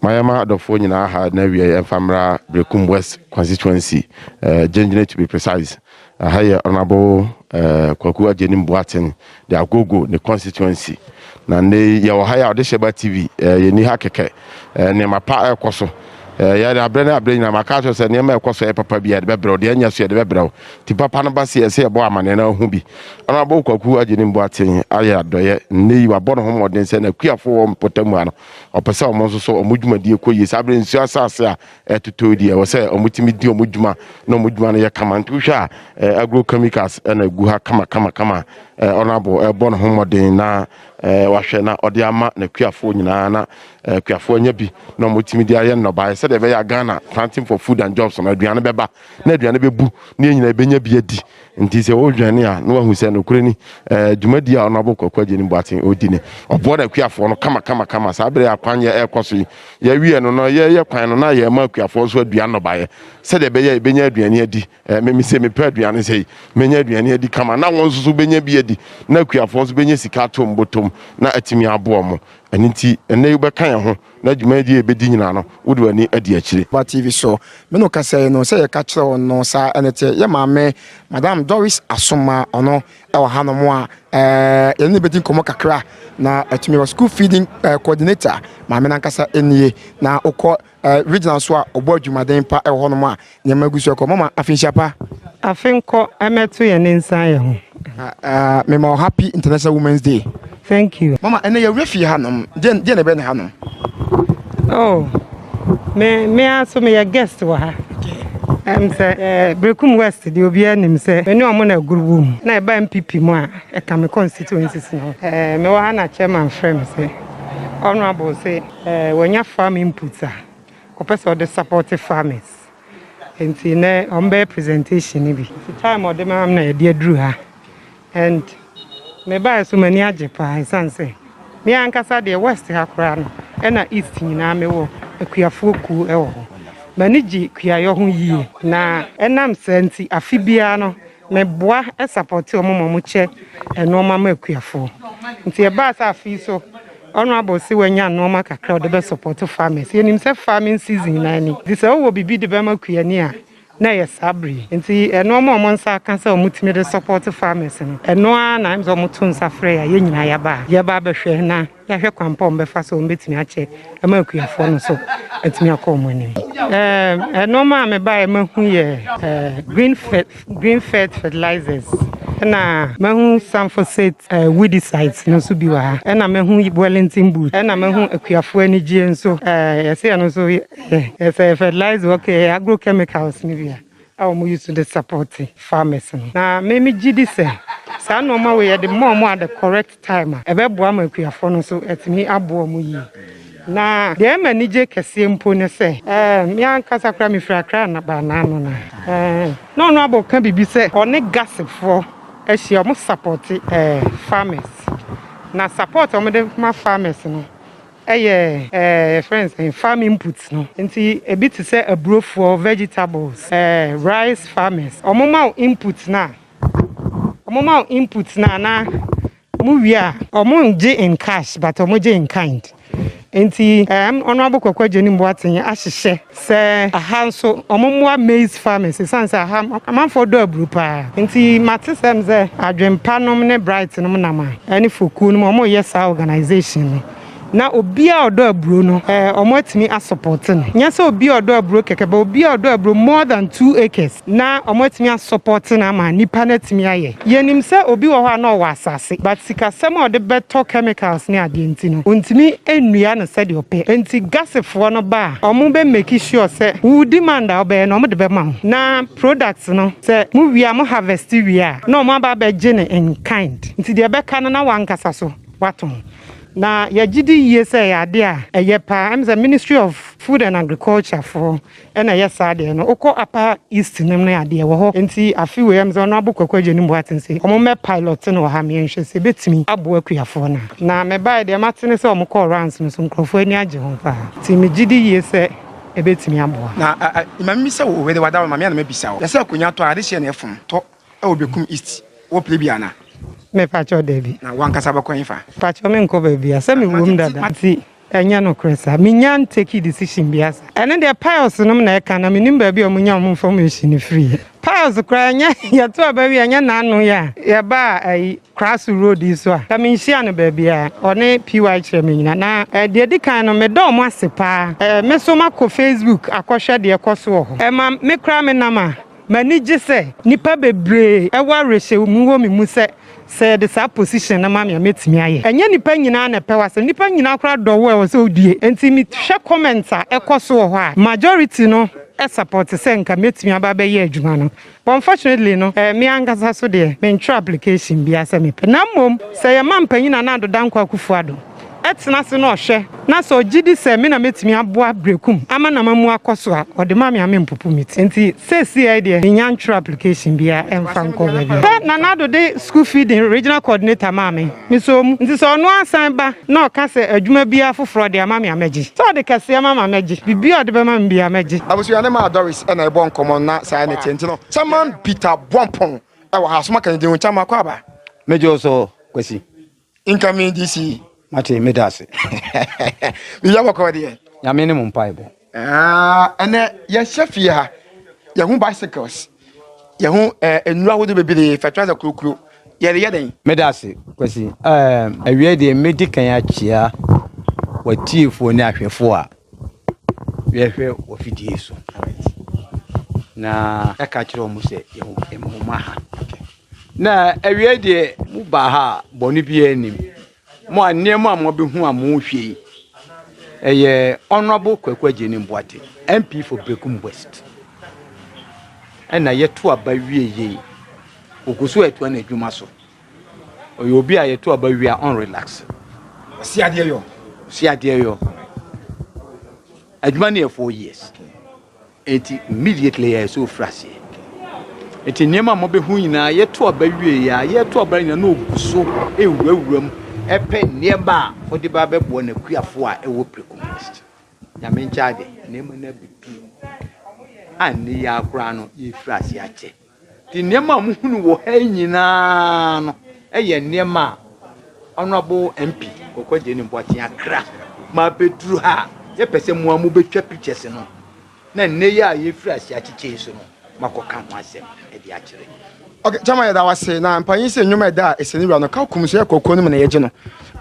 Mayama adɔfoɔ nyinaa ha na awieɛ mfa mmra Berekum West constituency, Gyengyene to be precise. Ɛha yɛ Honourable Kwaku Agyenim Boateng de Agogo ne constituency. Na nnɛ yi yɛwɔ ha yi a ɔde hyɛ ba TV yɛnni ha kɛkɛ. Nneɛma pa ɛrekɔ so. Yɛde aberɛ ne aberɛ nyinaa maka akyerɛ wo sɛ nneɛma a ɛkɔ so ɛyɛ papa biara yɛde bɛbrɛ wo, deɛ ɛnyɛ so yɛde bɛbrɛ wo. Nti papa no ba se ɛsɛ yɛbɔ amaneɛ na wahu bi. Honourable Kwaku Agyenim Boateng ayɛ adɔeɛ. Nnɛ yi wabɔ ne ho mmɔden sɛ n'akuafoɔ wɔ mpɔtam ha no ɔpɛ sɛ wɔn nso so wɔn dwumadie kɔ yie. Saa berɛ nsuo asase a ɛtotɔ yi deɛ, ɛwɔ sɛ wɔtumi di wɔn dwuma na wɔn dwuma no yɛ kama. Nti wohwɛ a eh, agro chemicals na ɛgu ha kama kama kama. Eh, ɔnabo ɛbɔ ne ho mmɔden na eh, wahwɛ na ɔde ama n'akuafoɔ nyinaa na eh, akuafoɔ anya bi na wɔtumi de ayɛ nnɔbaeɛ sɛdeɛ ɛbɛyɛ a Ghana planting for food and jobs no aduane bɛba na aduane bɛbu na yɛn nyinaa bɛnya bi adi Nti sɛ wodwane a na wahu sɛ nokorɛ ni, ɛɛ, dwumadie a Ɔnabɔ Kwaku Agyeni Boateng redi no, ɔboa n'akuafoɔ no kamakamakama. Saa berɛ yi a kwan yɛ rekɔ so yi, yɛawie no no, yɛreyɛ kwan no na yɛrema akuafoɔ nso aduan nnɔbaeɛ sɛdeɛ ɛbɛyɛ a yɛbɛnya aduane adi. Ɛɛ, me mese mepɛ aduane sei, mɛnya aduane adi kama na wɔn nso so bɛnya bi adi na akuafoɔ nso bɛnya sika ato wɔn bɔtɔm na atumi aboa wɔn. Ɛno nti, ɛnnɛ yi wobɛka yɛn ho. Na dwumadie a ɛbɛdi nyinaa no, wode w'ani adi akyire. Ba TV so. Me ne wo kasae no, sɛ yɛka kyerɛɛ wo no, saa ɛna ɛteɛ. Yɛ maame, Madam Doris Asomah, ɔno wɔ hanom a yɛne no bɛdi nkɔmmɔ kakra, na atumi aba. School Feeding Coordinator, maame no ankasa nie. Na wokɔ Regional nso a, ɔbɔ adwumaden pa wɔ hɔnom a Nyɛ ma gusu ɛkɔ mama afi nhyia pa. Afi nkɔ ɛmɛ to yɛ ne nsa yɛ ho. Me ma ɔ happy international women's day. Thank you. Mama ɛnɛ yɛ wura fie ha nom deɛ deɛ na ɛbɛ ne ha nom. Oh me me aso me yɛ guest wɔ ha. Ɛm sɛ eh, Berekum West deɛ obiara nim sɛ me ne ɔmo na aguru wɔ mu na ɛba MPP mu a ɛka me constituencies no ho. Eh, mewɔ ha na chairman frɛ me sɛ honorable sɛ eh, wanya farm inputs a Ɔpɛ sɛ ɔde support farmers nti nɛ ɔmo bɛyɛ presentation no bi. Nti time ɔde maa me na yɛde aduru ha and me baeɛ so m'ani agye paa ɛsiane sɛ me ankasa deɛ west ha koraa no ɛna east nyinaa me wɔ akuafoɔ kuo ɛwɔ hɔ. M'ani gye kuayɔ ho yie na ɛnam saa nti afe biara no Me boa support wɔn ma wɔn kyɛ nnoɔma ma akuafoɔ. Nti ɛbaa sɛ afei so honourable se wanya nnoɔma kakra ɔde bɛ support farmers. Yɛnim sɛ farming season nyinaa ni. Nti sɛ wowɔ biribi de bɛma kuani a na ɛyɛ saa bere yi. Nti nnoɔma a wɔn nsa aka sɛ wɔn tumi de support farmers no ɛno ara na ɛm sɛ wɔn to nsa frɛ yɛn a yɛn nyinaa yɛaba ha. Yɛba abɛhwɛ na Yɛahwɛ kwan pa a wɔbɛfa so a wɔbɛtumi akyɛ ma akuafoɔ no so atumi akɔ wɔn anim. Ɛɛ nneɛma a mebaeɛ mahu yɛ ɛɛ green fe green fert fertilizers ɛna mahu sanfoset ɛɛ weedicides no nso bi wɔ ha ɛna mahu wellington boot ɛna mahu akuafoɔ anigyeɛ nso ɛɛ yɛsɛ ɛno nso yɛ yɛsɛ fertilizer ok ɛyɛ agrochemicals no bi a a wɔn use de support farmers no na me megye di sɛ saa nneɛma wei yɛde mɔ wɔn at the correct time a, ɛbɛboa ma akuafoɔ no nso atumi aboa wɔn yie. Na deɛ ɛma anigye kɛseɛ mpo ne sɛ, me ankasa koraa mefiri Accra na baa n'ano no a, na ɔno abɔ ka biribi sɛ ɔne Gasefoɔ ahyia, wɔn sapɔɔte farmers. Na support a wɔde ma farmers no yɛ yɛfrɛ no sɛn, farm inputs no. Nti ebi te sɛ aburofoɔ, vegetables, rice farmers, wɔma wo inputs no a, Ɔmo ma wo input no anaa mo wie a. Ɔmo ngye in cash but ɔmo gye in kind nti ɛɛm Honourable Kwaku Adjani Mboateng ahyehyɛ sɛ aha nso ɔmo mmoa maize farmers esiane sɛ aha amanfoɔ dɔ aburo paa nti mate sɛm sɛ Adwenpa nom ne Bright nom nam a ɛne Fokuo nom ɔmo yɛ saa organisation no. Na obi a ɔdɔ aburo no eh, ɔmo atumi a supporte no. Nyɛ sɛ obi a ɔdɔ aburo kɛkɛ, but obi a ɔdɔ aburo more than two acres na ɔmo atumi a supporte no ama nipa no atumi ayɛ. Yɛnim sɛ obi wɔ hɔ a na ɔwɔ asase, but sikasɛm a ɔde bɛtɔ chemicals ne adeɛ nti no, ontumi nnua no sɛdeɛ ɔpɛ. Enti Gasefoɔ no ba a, ɔmo bɛ make sure sɛ wo demand a wobɛyɛ no, ɔmo de bɛma wo. Na products no, sɛ mo wie a, mo harvest wie a, na ɔmo aba abɛgye no in kind. Nti deɛ ɛbɛka no, na w'ankasa so woatɔn. Na yɛgye di yie sɛ ɛyɛ adeɛ a ɛyɛ paa. Ɛm sɛ Ministry of Food and Agriculture foɔ ɛna ɛyɛ saa adeɛ no. Wokɔ Upper East nom no adeɛ wɔ hɔ. Nti afe wei ɛm sɛ Honourable Kwaku Agyenim Boateng se wɔn mmɛ pilot no wɔ ha meɛ nhwɛ sɛ ɛbɛtumi aboa akuafoɔ no a. Na me baeɛ deɛ mate ne sɛ wɔn kɔɔ rounds no so nkorɔfoɔ ani agye ho paa. Nti me gye di yie sɛ ɛbɛtumi aboa. Na a a, Mame bisa wo o, wede wada wo ma me a na mabisa wo. Yɛ sɛ akonya tɔ a, adehyeɛ na ɛfom tɔ Ɛwɔ Bekum East, wɔ Plebia anaa? Me pakyɛw dabi. Na wankasa bɛkɔ hefa? Pakyɛw me nkɔ baabia sɛ me wom dada nti ɛnyɛ nokorɛ saa. Me nya ntake decision bia saa. Ɛno deɛ pious nom na ɛka na me nim baabi a ɔmo nya ɔmo information no firiɛ. Pious koraa ɛnyɛ yɛto aba wie ɛnyɛ naano yɛ a yɛbaa ayi Kraso road yi so a ka me nhyia no baabia ɔne PY kyerɛ me nyina na eh, deɛ di kan no me dɔ ɔmo ase paa eh, me so makɔ Facebook akɔhwɛ deɛ ɛkɔ so wɔ hɔ eh, ma me koraa me nam a M'ani gye sɛ nnipa bebree wɔ awerɛhyɛmu wɔ me mu sɛ, sɛ yɛde saa position no ma me a, mɛtumi ayɛ. Ɛnyɛ nnipa nyinaa na ɛpɛ w'asɛm. Nnipa nyinaa koraa dɔ wo a, ɛwɔ sɛ wodue. Enti mehwɛ comments a ɛkɔ so wɔ hɔ a, majority no support sɛ nka mɛtumi aba abɛyɛ adwuma no. But unfortunately no, me ankasa so deɛ, mentwerɛ application biara sɛ mepɛ. Na mmom, sɛ yɛma mpanin Nana Addo Dankwa Akufo-Addo, tena ase na ɔhwɛ na sɛ ɔgye di sɛ me na mɛtumi aboa Berekum ama no ama mu akɔ so a, ɔde ma me a mempopo me ti. Nti seesei deɛ mennya ntwerɛ application biara mfa nkɔ baabiara. Pɛ na Nado de School Feeding Regional Coordinator maa me. Mesɔɔ mu. Nti sɛ ɔno ara san ba na ɔka sɛ adwuma biara foforɔ ɔde ama me a, mɛgye. Sɛ ɔde kɛseɛ ma me a, mɛgye. Biribiara a ɔde bɛma me biara, mɛgye. Abusua no maa Doris na ɛbɔɔ nkɔmmɔ no na saa ne teɛ. Nti no, Chairman Peter Bwampong wɔ ha. So moaka ne din ho? Chairman Akwaaba. Megye wo so, Kwasi. Incoming DC. Mate meda ase. Biribi abɔkɔ deɛ. Nyame ne mo mpaebɔ. Ah, ɛnɛ yɛhyɛ fie ha. Yɛho bicycles. Yɛho eh, nnuro ahodoɔ bebree, fertilizer kurokuro. Yɛde yɛ dɛn? Meda ase, Kwasi. Eh, awie deɛ medi kan akyia watiefoɔ ne ahwɛfoɔ a yɛhwɛ wɔ fidie so. Na ɛka kyerɛ wɔn sɛ yɛn ho ha. Na awiei deɛ, mobaa ha a, bɔne biara nnim. Mo a nneɛma a moabɛhu a mohwɛ yi, ɛyɛ Honourable Kwaku Agyenim Boate, MP for Berekum West, ɛna yɛto aba wie yei. Ɔgu so atoa n'adwuma so. Ɔyɛ obi a yɛto aba wie a ɔnrelax. Ɔsi adeɛ yɔ. Ɔsi adeɛ yɔ. Adwuma no yɛ four years. Enti immediately yɛɛ sɛ ɔfiri aseɛ. Enti nneɛma a mobɛhu nyinaa yɛto aba wieeɛ a, yɛto aba nyinaa na ɔgu so ɛwurawura mu ɛpɛ nneɛma a ɔde ba bɛboa n'akuafoɔ a ɛwɔ prɛko mu Mist. Nyame nkyɛade, nneɛma no abɛduru a nnɛ yi ara koraa no yɛrefiri aseɛ akyɛ. Nneɛma a mohunu wɔ ha yi nyinaa no yɛ nneɛma a Honourable MP Koko Agyeni Boateng akra ma abɛduru ha a yɛpɛ sɛ mo a mobɛtwa pictures no na nnɛ yi a yɛfiri ase akyekyɛ yi so no moakɔka ho asɛm de akyerɛ. Ok, Chairman yɛda wo ase. Na mpanyin sɛ nnwom a ɛda Esenewura no ka kum so yɛ kɔkɔɔ no mu na yɛgye no.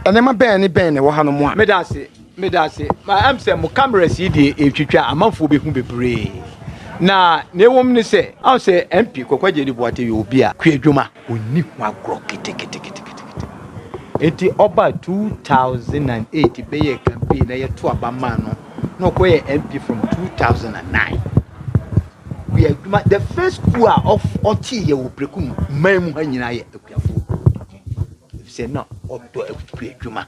Nneɛma bɛn ne bɛn na ɛwɔ hanom a. Meda ase. Meda ase. Ma ɛm sɛ mo cameras yi deɛ ɛretwitwa a, amanfoɔ bɛhu bebree. Na na ɛwom ne sɛ, ahụ sɛ MP Kwakwa Gyedi Boate yɛ obi a kuadwuma ɔnni ho agorɔ keteketeketekete. Enti ɔba 2008 bɛyɛɛ campaign na yɛto aba maa no na ɔkɔyɛ MP from 2009. Kuadwuma, the first ku a ɔtee yɛ wɔ prɛko mu man mu ha nyinaa yɛ akuafoɔ. Ɛfisɛ na ɔdɔ akuadwuma.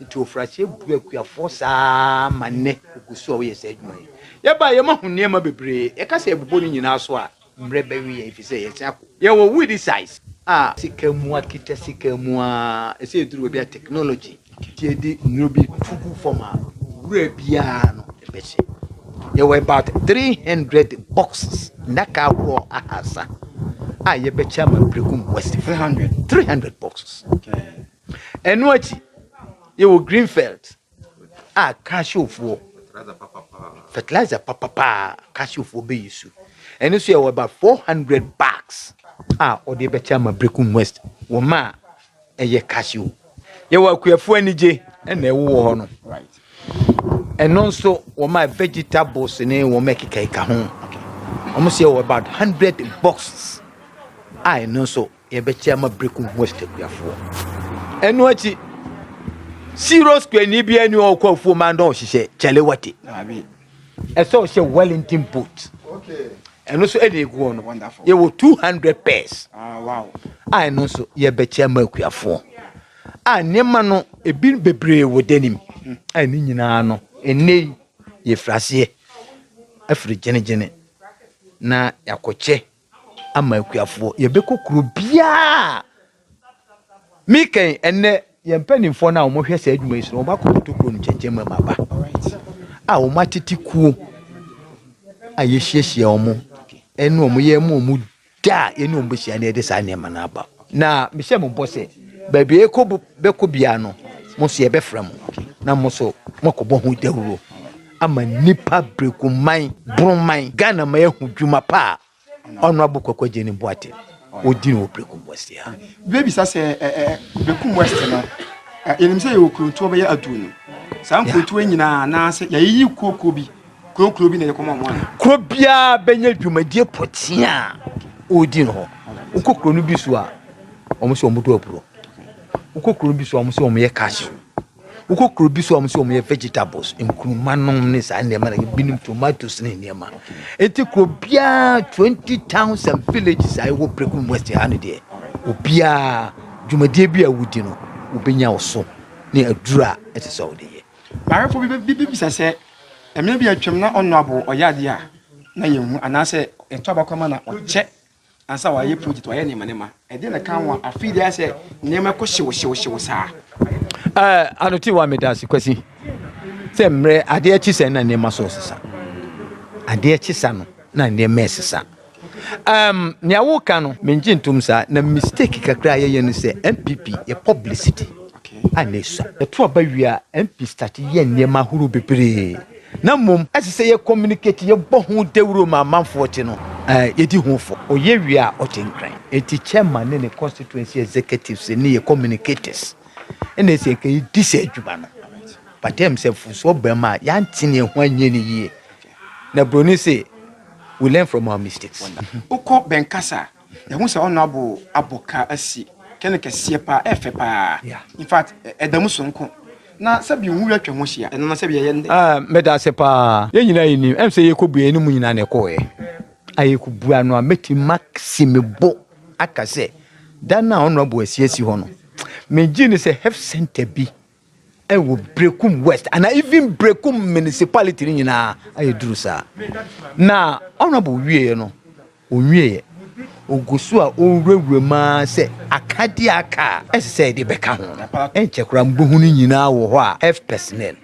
Nti ofuraseɛ bu akuafoɔ saa ara ma nnɛ ɔgu so a ɔyɛ saa adwuma yi. Yɛba a yɛmahu nneɛma bebree, yɛka sɛ yɛbobɔ ne nyinaa so a, mmerɛ bɛwe yɛn ɛfiri sɛ yɛasan akɔ. Yɛwɔ weedy size a. Sika mu akita sika mu a, ɛsɛ ɛduru baabi a technology. Nti yɛde nnuro bi to gu fam a wura biara no bɛhyɛ. Yɛwɔ about 300 boxes, nnaka ahodoɔ ahasa a yɛbɛkyɛ ama Berekum West. 300? 300 boxes. Okay. Ɛno akyi, yɛwɔ Greenfield a Casiofoɔ, fertilizer papapaa Casiofoɔ bɛyi su. Ɛno nso yɛwɔ about 400 bags a ɔde bɛkyɛ ama Brekum West wɔ ma a ɛyɛ Casio. Yɛwɔ akuafoɔ anigye ɛna ɛwowɔ hɔ no. Ɛno nso wɔ ma vegetables ne wɔn ɛkekaeka ho. Wɔn nso yɛwɔ about 100 boxes a ɛno nso Yɛbɛkyɛ ama Brekum West akuafoɔ. Ɛno akyi, Siro skuani bi ani ɔkɔ afuo ma ndɔ ɔhyehyɛ Kyalewate. Ɛsɛ ɔhyɛ Wellington boot. Ɛno nso ɛna eguɔ no. Yɛwɔ 200 pairs. Ah, a ɛno nso yɛbɛkyɛ ama akuafoɔ. A nneɛma no ebi bebree wɔ danim. Hmm. A ne nyinaa no ɛnɛ yi yɛfiri aseɛ afiri gyene na yɛakɔkyɛ ama akuafoɔ. Yɛbɛkɔ kuro biara. Mekɛn ɛnɛ yɛn mpanimfoɔ no a wɔhwɛ saa adwuma yi so no, wɔakɔtoto kuro no kyɛnkyɛn mu ama aba a wɔatete kuo a yɛhyiahyia wɔn ɛne wɔn yɛ mu wɔn da a yɛne wɔn bɛhyia na yɛde saa nneɛma no aba na mehyɛ mo bɔ sɛ baabi a yɛkɔ bɛkɔ biara no mo nso yɛbɛfrɛ mo na mo nso moakɔbɔ ho dawuro ama nnipa brekuman broman Ghana ma yɛahu dwuma pa a Honourable Kwaku Agyenim Boateng ɔdi no wɔ Brekum West ha. Bebisa sɛ Brekum West no yɛnim sɛ yɛwɔ kurontuo bɛyɛ aduonu saa nkurontuo nyinaa anaasɛ yɛayiyi kuo kuo bi kurokuro bi na yɛkɔma ɔmo ana? Kuro biara bɛnya dwumadie pɔtee a ɔredi no hɔ. Wokɔ kuro no bi so a, wɔn sɛ wɔn do aburo. Wokɔ kuro no bi so a, wɔn sɛ wɔn yɛ cash. Wokɔ kuro bi so a wɔn sɛ wɔn yɛ vegetables, nkuruma nom ne saa nneɛma na binom tomatoes ne nneɛma. Eti kuro biara twenty thousand villages a ɛwɔ Prekum West ha no deɛ, obiara dwumadie bi a wodi no, wobɛnya wo so ne aduru a ɛsɛ sɛ wode yɛ. Maayɛfo bi bɛ- bi bi bisa sɛ, mmea bi a atwam na ɔnnɔ abo, ɔyɛ adeɛ a na yɛnhu, anaasɛ ɛtɔ abakɔma na ɔkyɛ Ansa wayɛ project wayɛ nneɛma nneɛma ɛdeɛ na ɛka ho afei deɛ sɛ nneɛma ɛkɔ hyew hyew hyew saa. ɛɛ eh, anote wa meda ase kwasi sɛ mmerɛ adeɛ kye sɛ na nneɛma so sesa adeɛ kye sa no na nneɛma ɛsesa um, nea woka no mengye ntom saa na mistake kakra a yɛyɛ no sɛ mpp yɛ publicity a na ɛsua ɛto aba wie a mp start yɛ nneɛma ahorow bebree na mmom ɛsɛ sɛ yɛ communicate, yɛbɔ ho dawuro ma amanfoɔ te no, eh, yɛdi ho fɔ. Ɔyɛ wie a ɔte nkran. Enti chairman ne ne constituency executives ne yɛ communicators na ɛsɛ yɛka yɛdi saa adwuma no. But ɛm sɛ mfomsoɔ baa mu a yɛante ne ho anyɛ ne yie. Na buroni se, we learn from our mistakes. Wokɔ bɛnkasa a, Yɛhu sɛ ɔno abo abɔ ka asi kɛne kɛseɛ paa, ɛyɛ fɛ paa, in fact ɛda mu sononko, na sɛbi nwura atwa ho ahyia, ɛno na sɛbi ɛyɛ nnɛ. Ah, meda ase paa. Yɛn nyinaa yɛnim, ɛm sɛ yɛkɔbue yɛn ne mo nyinaa na ɛkɔɔɛ. A yɛkɔbua no a, mɛtumi masi me bo aka sɛ, da no a ɔno abo asi asi hɔ no, megyee no sɛ health centre bi wɔ Berekum West anaa even Berekum municipality no nyinaa ayɛ duru saa. Na honorable wieɛ no, ɔnwieɛ. Ɔgu so a ɔwurawura mu ara sɛ akadeɛ a aka a ɛsɛ sɛ yɛde bɛka ho no, ɛnkyɛ koraa mobɛhu no nyinaa wɔ hɔ a health personnel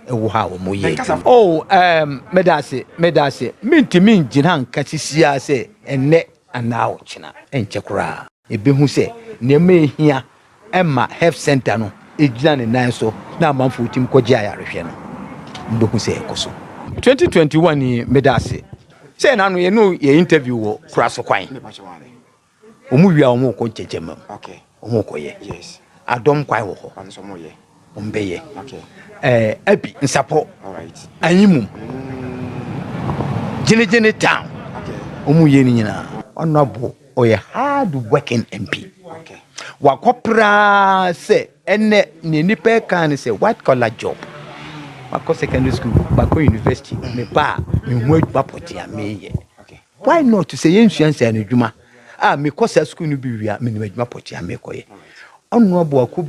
ɛwɔ hɔ a wɔyɛ adwuma. Oh, um, meda ase, meda ase. Mentumi ngyina nka sisiaa sɛ ɛnnɛ anaa ɔkyena, ɛnkyɛ koraa. ebehu sɛ nneɛma a ehia ma Health Centre no gyina ne nan so na amanfo tumi kɔgye ayarehwɛ no, wobehu sɛ ɛkɔ so. Twenty twenty one yi meda ase sɛ ɛna ano yɛne yɛ interview wɔ kura so kwan wɔn wie a wɔn rekɔ nkyɛnkyɛnma mu wɔn rekɔyɛ adɔm kwan wɔ hɔ. Ɔmbɛyɛ ɛɛ Abi Nsapɔ Anyimum Gyenegyene Town ɔmo yɛ ne nyinaa. Honourable ɔyɛ hard working MP wakɔ praa sɛ ɛnɛ neɛ nipa ɛkaa ne sɛ white collar job makɔ secondary school makɔ university meba a mehu adwuma pɔtee a meyɛ why not sɛ yɛn nsua nsɛn adwuma a mekɔ saa school no bi wie a menim adwuma pɔtee a mekɔyɛ Honourable akɔ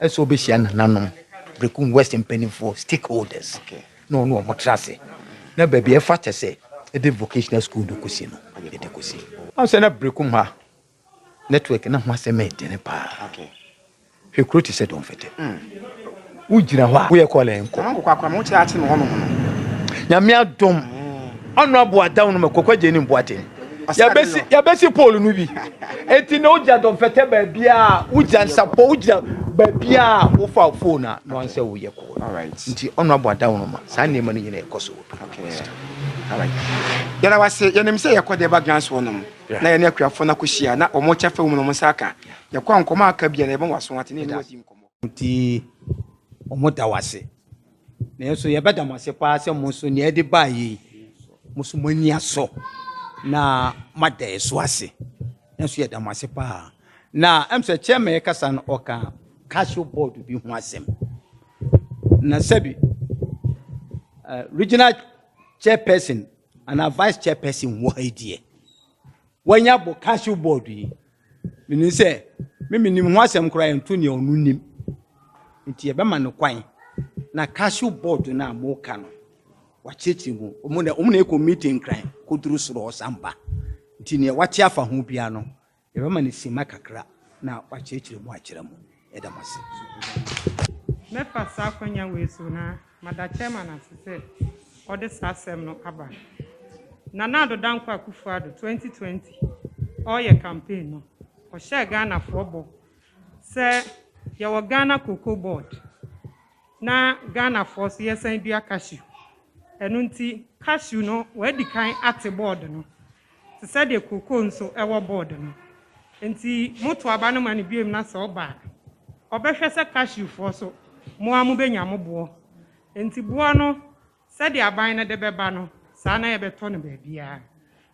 Ɛsɛ ɔbɛhyia nananom, Berekum West mpanimfoɔ, stakeholders, na ɔne wɔn tra ase, na baabi a ɛfata sɛ ɛde vocational school no kɔsi no, ɛde kɔsi. Wahu sɛ na Berekum ha network no ho asɛm yɛ dene paa. Hwɛ kuro te sɛ Dɔnfɛtɛ. Wogyina hɔ a, woyɛ kɔɔla yɛn kɔ. Nyame adom, Honourable Adaonom Kwaku Agyenim Boateng. yɛbɛsi yɛbɛsi pole no bi eti na wogyina dɔnfɛtɛ baabi a wogyina nsapɔ wogyina baabi a wofa phone a na wɔn sɛ woyɛ kɔɔ nti ɔno abɔ ada wɔn ma saa nneɛma no nyina ɛkɔ so wɔ yɛrɛ wase yɛnim sɛ yɛkɔ deɛ ba grants wɔ nom na yɛne akuafoɔ no akɔhyia na wɔn kyɛ fɛ wɔn nom nsa aka yɛkɔ nkɔmɔ aka bia na yɛbɛn waso ate ne ɛne wadi nkɔmɔ nti wɔn da wase Nanso yɛbɛda mo ase paa sɛ mo nso nea ɛde baa yei mo nso mo ani asɔ na moada ɛso ase nanso yɛda mo ase paa na ɛm sɛ chairman ɛkasa no ɔka casio board bi ho asɛm na sɛbi uh, regional chairperson Anaa vice chairperson wɔ ha yi deɛ. Wanya bɔ council board yi. Menim sɛ me menim ho asɛm koraa ɛnto nea ɔno nim. Nti yɛbɛma no kwan na council board no a moka no wakyerɛkyerɛ mu. Ɔmo na ɔmo na ɛkɔ meeting kran kɔduru soro ɔsan ba. Nti nea wate afa ho biara no Yɛbɛma no simma kakra na wakyerɛkyerɛ mu akyerɛ mo. Yɛda mo ase. Mɛfa saa akwanya wei so na mada Chairman ase sɛ ɔde saa asɛm no aba. Nana Addo Dankwa Akufo-Addo 2020 ɔreyɛ campaign no, ɔhyɛɛ Ghanafoɔ bɔ sɛ yɛwɔ Ghana Cocoa Board na Ghanafoɔ nso yɛsan dua cashew. Ɛno nti cashew no wɔadi kan ate board no. te sɛ deɛ kookoo nso wɔ board no. Enti moto aba no ma no biom na sɛ ɔba a, ɔbɛhwɛ sɛ cashewfoɔ nso, mo ara mobɛnya mo boɔ. Enti boɔ no, sɛdeɛ aban no de bɛba no, saa na yɛbɛtɔ no baabiara.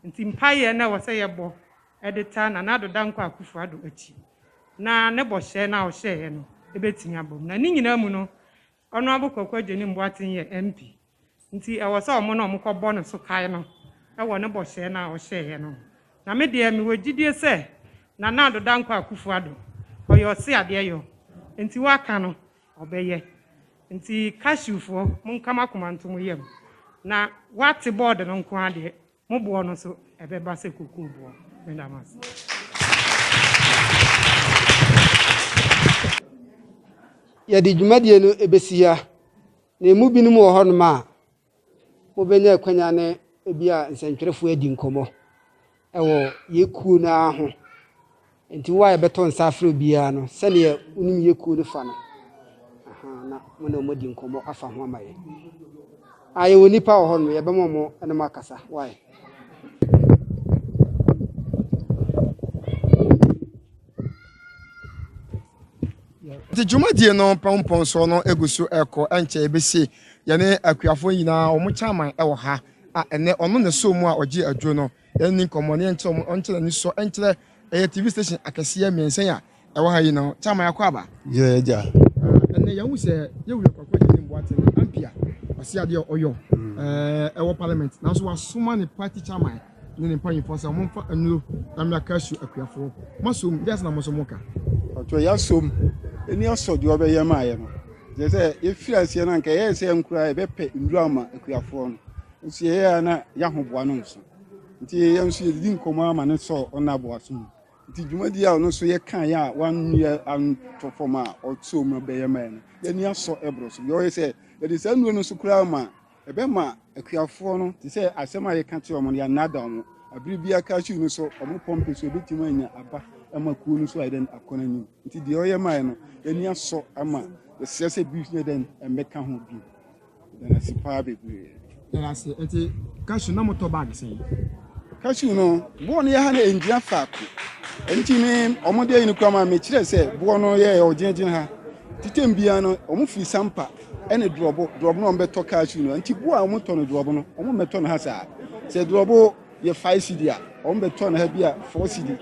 Enti mpaeɛ na ɛwɔ sɛ yɛbɔ de taa Nana Addo Dankwa Akufo-Addo akyi na ne bɔhyɛ no a ɔhyɛeɛ no bɛtumi abam. Na ne nyinaa mu no, Honourable Kwaku Adjenim Boateng yɛ MP nti ɛwɔ sɛ wɔn na wɔkɔbɔ ne so kae no wɔ ne bɔhyɛ no a ɔhyɛeɛ no ho. Na me deɛ mewɔ gyidie sɛ Nana Addo Dankwa Akufo Addo, ɔyɛ ɔseadeɛ yɔ nti waka no ɔbɛyɛ. Nti Cashewfoɔ monka mo akoma nto mo yam na wate board no nko ara deɛ mo boɔ no nso ɛbɛba sɛ kokoo boɔ. Meda mo ase. Yɛde dwumadie no ɛbɛsi ha, na ɛmu binom wɔ hɔnom a mobɛnya akwanya ne ebi a nsɛntwerɛfoɔ adi nkɔmmɔ ɛwɔ yɛ kuo no ara ho. Enti wo a yɛbɛto nsa afrɛ wo biara no, sɛdeɛ wonim yɛ kuo no fa no, ahaa, na mo ne wɔn adi nkɔmmɔ afa ho ama yɛn. A yɛwɔ nnipa wɔ hɔ no, yɛbɛma wɔn ne mo akasa. Why? nti dwumadie no pɔnpɔnsoɔ no gu so ɛkɔ ɛnkyɛ ɛbɛsie yɛne akuafoɔ nyinaa wɔn kyaman wɔ ha a ɛnɛ ɔno na ɛsoo mu a ɔgye aduro no Yɛnni nkɔmmɔ na yɛnkyerɛ wɔn nkyerɛ anisɔ nkyerɛ. Ɛyɛ TV station akɛseɛ mmiɛnsa a ɛwɔ ha yi no. Kyama yɛakɔ aba? Yɛ agya. Ɛnɛ yɛahu sɛ yɛwura kwakwa gyegye mboate no ampia ɔse adeɛ a ɔyɔ ɛwɔ parliament nanso wasoma ne party chairman ne ne mpanyinfoɔ sɛ wɔn mfa nnuro na mmea kasu akuafoɔ masom deɛ asena mo nso mo ka. Ɔtɔ yɛasom ɛni asɔ deɛ ɔbɛyɛ maayɛ no. Kyerɛ sɛ yɛfiri aseɛ no anka ɛyɛ sɛ nkura ɛbɛpɛ nnuro ama akuafoɔ no. Nso yɛyɛ a na yɛahoboa no nso nti yɛn nso yɛdidi nkɔmmɔ ara ma no sɔɔ ɔno aboa so mu nti dwumadi a ɔno nso yɛka yɛ a wanoyɛ antɔ fam a ɔtoo mu bɛyɛ ma no yɛni asɔ ɛborɔ so deɛ ɔyɛ sɛ yɛde saa nnuro no nso koraa ma ɛbɛma akuafoɔ no te sɛ asɛm a yɛka kyerɛ wɔn no yɛanada wɔn abere bi aka hyew no so wɔn pɔmpe so ebɛtumi anya aba ama kuo no so ayɛ dɛn akɔ n'anim nti deɛ ɔyɛ mae no yɛni asɔ ama yɛsrɛ sɛ bi yɛ dɛn mmɛka ho bio Danasi paa bebree. Danasi nti cashew na mo tɔ bag sɛn. Cashew no boɔ no yɛ ha na ɛngyina faako nti me ɔmo deɛ yi no kura ma mekyerɛ sɛ boɔ no yɛ ɔgyinagyina ha titam biara no ɔmo firi sampa ɛne drɔbo drɔbo no ɔmo bɛtɔ cashew no nti boɔ a ɔmo tɔ no drɔbo no ɔmo mmɛtɔ no ha saa sɛ drɔbo yɛ five cedi a wɔn bɛ tɔ no ha bi a four cedi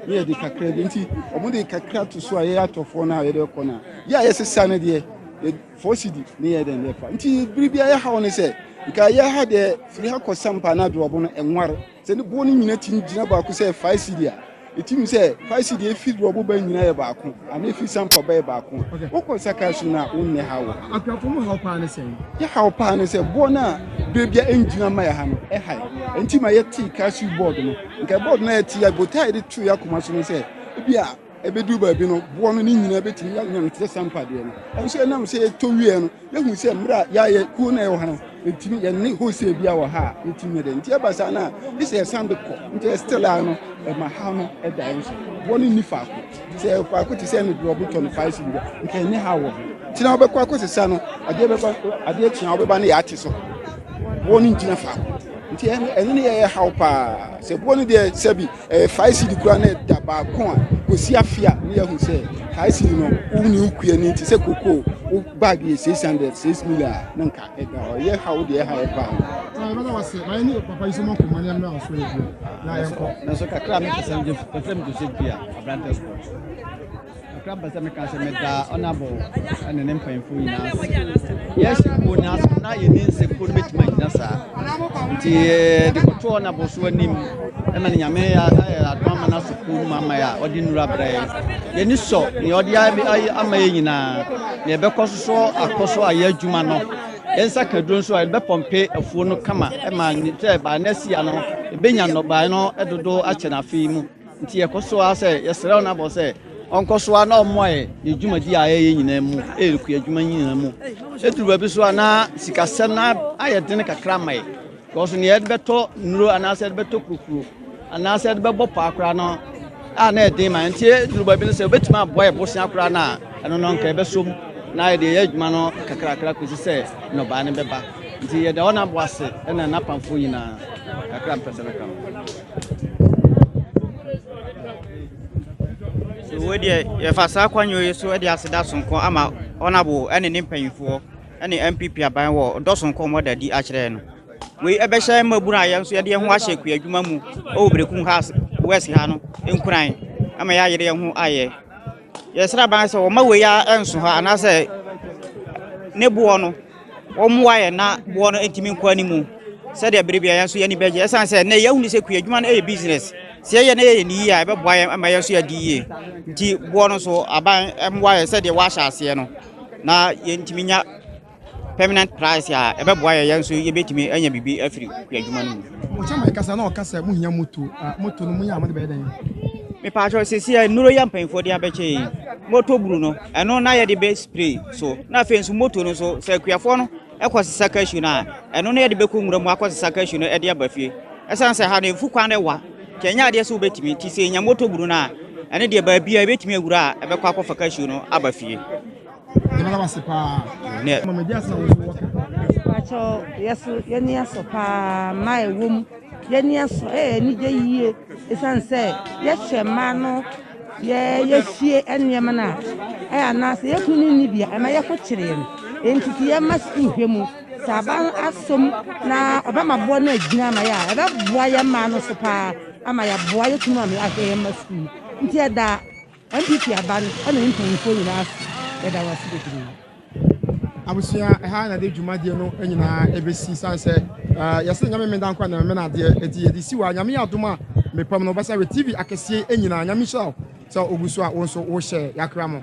ne yɛ de kakra bi nti wɔn de kakra to so a yɛ atɔ fɔ no a yɛ de kɔ no a yɛ a yɛ sesa no deɛ yɛ four cedi ne yɛ de ne fa nti biri bi a yɛ ha wɔn sɛ nka yɛ ha deɛ firi ha kɔ sampa na adoɔbo no ɛnware sɛ ne boɔ no nyina ti gyina baako sɛ five cedi a Ɛtim sɛ Farisi deɛ efi borɔbo ba nyinaa yɛ baako anaa efi sampa ba yɛ baako. Wokɔ sakra so no a wonyɛ ha wɔ. Akuafo mu haw paa ne sɛn? Yɛ haw paa ne sɛ boɔ no a berɛ bia ɛngyina ma yɛ ha no ɛha yɛ. Ɛnti ma yɛtee kasi bɔɔd no. Nka bɔɔd no a yɛte yɛ botae de too yɛ akoma so no sɛ ebi a ɛbɛduru baabi no boɔ no ne nyinaa bɛtumi yɛanya no te sɛ sampa deɛ no. Nanso ɛnam sɛ yɛtɔ wieɛ no Yɛhu sɛ mmerɛ a yɛayɛ kuo no a ɛwɔ ha no, ɛtumi yɛne hosea bi a wɔ ha a yɛtumi yɛ dɛ nti ɛba saa no a gye sɛ yɛsan de kɔ nti ɛstel a no ɛma ha no ɛda yɛn so wɔ no nni faako sɛ faako te sɛ ne deɛ ɔbotɔ no fae si bi da nka ɛne ha wɔ ho nti na wobɛkɔ akɔ sesa no adeɛ bɛba adeɛ kyea wobɛba ne yɛate so wɔ no ngyina faako nti ɛno ne yɛyɛ haw paa sɛ boɔ no deɛ sɛbi Ɛyɛ fae sidi kura na ɛda baako a kɔsi afe a ne yɛhu sɛ fae sidi no wo ne wo kua no nti sɛ koko wo bag yɛ 600 6 mil a na nka ɛda hɔ yɛ ha wo deɛ ha yɛ paa nanso kakra me pɛsɛ mgye fam to sɛ bia abrantɛ sport Kakra mpɛ sɛ meka sɛ meda Ɔnabɔ ne ne mpanyinfoɔ nyinaa ase. Yes, wɔ nyinaa so na yɛ ne nse mpo no bɛtumi anyina saa. Nti de kɔto Ɔnabɔ so anim ɛma ne nyame ayɛ adom ama no aso kuo mu ama yɛ a ɔde nnura brɛ yɛ. Yɛni sɔ nea ɔde ama yɛ nyinaa na yɛbɛkɔ so so akɔ so ayɛ adwuma no. Yɛn nsa ka duro nso a yɛbɛpɔmpe afuo no kama ɛma sɛ baa no asia no ɛbɛnya nnɔbae no dodo akyɛ no afei mu. Nti yɛkɔ so ara sɛ yɛsrɛ wo Nabal sɛ ɔnkɔ so ara na ɔmmoa yɛ yɛ dwumadi a yɛyɛ nyinaa mu, yɛ kua adwuma nyinaa mu. Ɛduru baabi so a na sikasɛm no ayɛ dene kakra ma yɛ, because nea yɛde bɛtɔ nnuro anaasɛ yɛde bɛtɔ kurokuro anaasɛ yɛde bɛbɔ paa koraa no a na ɛden ma nti ɛduru baabi no sɛ wobɛtumi aboa yɛ bosea koraa no a ɛno no nka ɛbɛsom na yɛde yɛ adwuma no kakrakra kɔsi sɛ nnɔbaa no bɛba nti yɛda ɔno aboa se ɛna n'apamfoɔ nyinaa kakra mpɛ sɛ mɛka no wei deɛ yɛfa saa kwanwoo yi so de aseda sonko ama ɔnabo ne ne mpanyinfoɔ ne npp aban wɔ dɔ sonko wɔn da di akyerɛ no wei ɛbɛhyɛ mmabunu a yɛn nso yɛde yɛn ho ahyɛ kua adwuma mu wɔ berekum ha west ha no nkuran ama yɛayere yɛn ho ayɛ Yɛsrɛ aban sɛ wɔma wei ara nso hɔ anaasɛ ne boɔ no wɔmmoa yɛn na boɔ no ntumi nkɔ anim sɛdeɛ bere biara yɛn nso yɛn ani bɛgye ɛsan sɛ nnɛ yɛahu ne sɛ kua adwuma no yɛ business sɛ yɛyɛ na yɛyɛ ne yie a ɛbɛboa yɛn ama yɛn nso yɛadi yie nti boɔ no so aban mmoa yɛn sɛdeɛ wɔahyɛ aseɛ no na yɛntumi nya permanent price a ɛbɛboa yɛn nso yɛbɛtumi anya biribi afiri yɛn adwuma no mu. mo kyɛ mo kasa na ɔka sɛ mo hia moto a moto no mo yɛ a mo de bɛyɛ dɛn. mepatwɔ sisi a nnuro yɛ mpanyinfoɔ de abɛkyɛ yi moto buru no ɛno na yɛde bɛ spray so na afei nso moto no so sɛ akuafoɔ no ɛkɔ sisa cashew no a ɛno na yɛde bɛkɔ nwura mu akɔ sisa cashew no ɛde aba fie ɛsan sɛ ha no efu kwan no ɛwa kyɛnyɛ adeɛ sɛ wobɛtumi ti sɛ nya moto buru no a ɛne deɛ baabi a ebɛtumi awura a ɛbɛkɔ akɔfa cashew no aba fie. Yɛbɛda wo ase paa. Nɛ. Mama di asɛm a wɔso wɔka. Pakyɛ yɛso yɛni asɔ paa mmaa ɛwɔ mu yɛni asɔ ɛyɛ anigye yie ɛsiane sɛ yɛhyɛ mmaa no yɛ yɛfie nneɛma no a ɛyɛ anaasɛ yɛkunu no nni bia ɛma yɛko kyere yɛn enti ti yɛma sukuu hwɛ mu sɛ aba asom na ɔbɛma boɔ no agyina ama yɛ a ɛbɛboa yɛ mmaa no so paa ama yɛaboa yɛkunu ama yɛahwɛ yɛn ma sukuu nti ɛda NPP aba no ɛna yɛn mpaninfoɔ nyinaa ase yɛda wɔn ase bebree. Abusua ɛha na de dwumadie no nyinaa ɛbɛsi sane sɛ yɛsɛ nyame meda nkwa na mena adeɛ ɛti yɛde si wa nyame adom a mepam no bɛsa wɛ tv akɛseɛ nyinaa nyame nhyira wo sɛ ogu so a wo nso wohyɛ yakra mo